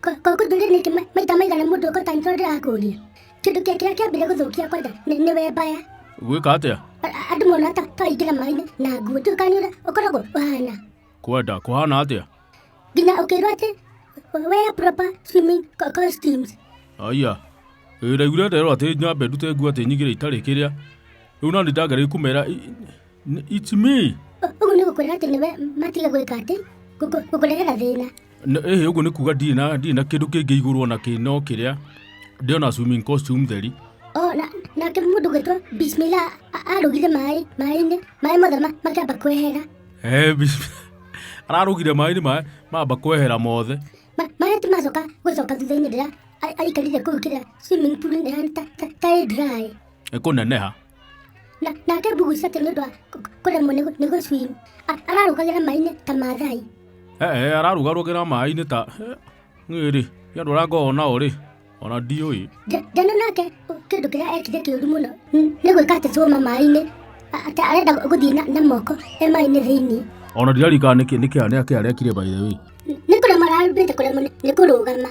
koguo ndũrĩ ningĩ maita maigana mũndũ ũkota nĩ tondũ ndĩrakũria kĩndũ kĩa kĩrĩa kĩambire gũthũkia kwanza nĩ nĩ we mbaya gwĩka atĩa A- a- andũ mona ta twaingĩra maĩ-inĩ na nguo njũĩ kana nĩ ũrĩa ũkoragwo ũhana kwenda kũhana atĩa nginya ũkĩrwo atĩ wear proper swimming co- costumes aya ĩraigure nderwo atĩ nyambe ndute nguo atĩ nyigĩre itarĩ kĩrĩa rĩu na nĩ ndagĩrĩire kũmera i- it's me ũguo nĩ gũkwĩra atĩ nĩwe matiga gwĩka atĩ gũkũrehera thĩna ĩhĩ ũguo nĩ kuga ndirĩ na ndirĩ na kĩndũ kĩngĩ igũrwo na kĩ no kĩrĩa ndĩona swimming costume theri o na nake mũndũ gwĩtwo bismila arũgire maĩ maĩ-inĩ maĩ mothe makĩamba kwehera ararũgire maĩ-inĩ maĩ mamba kwehera mothe maĩ ti macoka gũcoka thutha-inĩ rĩrĩa aikarire kũu kĩrĩa swimming pool-inĩ ta ĩ dry ĩkũneneha na nake mbuguca atĩ nĩ ũndũ wa kũ- kũremwo nĩ gũ- nĩ gũcwim ararũgagĩra maĩ-inĩ ta mathai ee ararugarugĩra maĩ-inĩ ta ng'ĩrĩ nĩ andũ arĩa ngoo nao rĩ ona ndiũĩ Nja- njana nake ũ- kĩndũ kĩrĩa ekire kĩũru mũno n- nĩ gwĩka atĩ cũma maĩ-inĩ a- atĩ arenda gũ- gũthiĩ na- na moko e maĩ-inĩ thĩinĩ ona ndirarikana nĩkĩ nĩkĩ anĩa kĩarĩa kire by the way N- nĩ kũremwo ararũmbĩte kũremwo nĩ- nĩ kũrũgama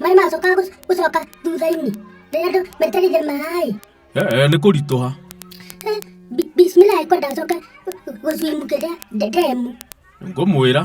maĩ macoka gũc- gũcoka thutha-inĩ rĩrĩa andũ metereire maĩ ee nĩ kũritũha Eh, bi- bismillah ĩkwa ndacoka gũcwimukĩria ndemu ngũmwĩra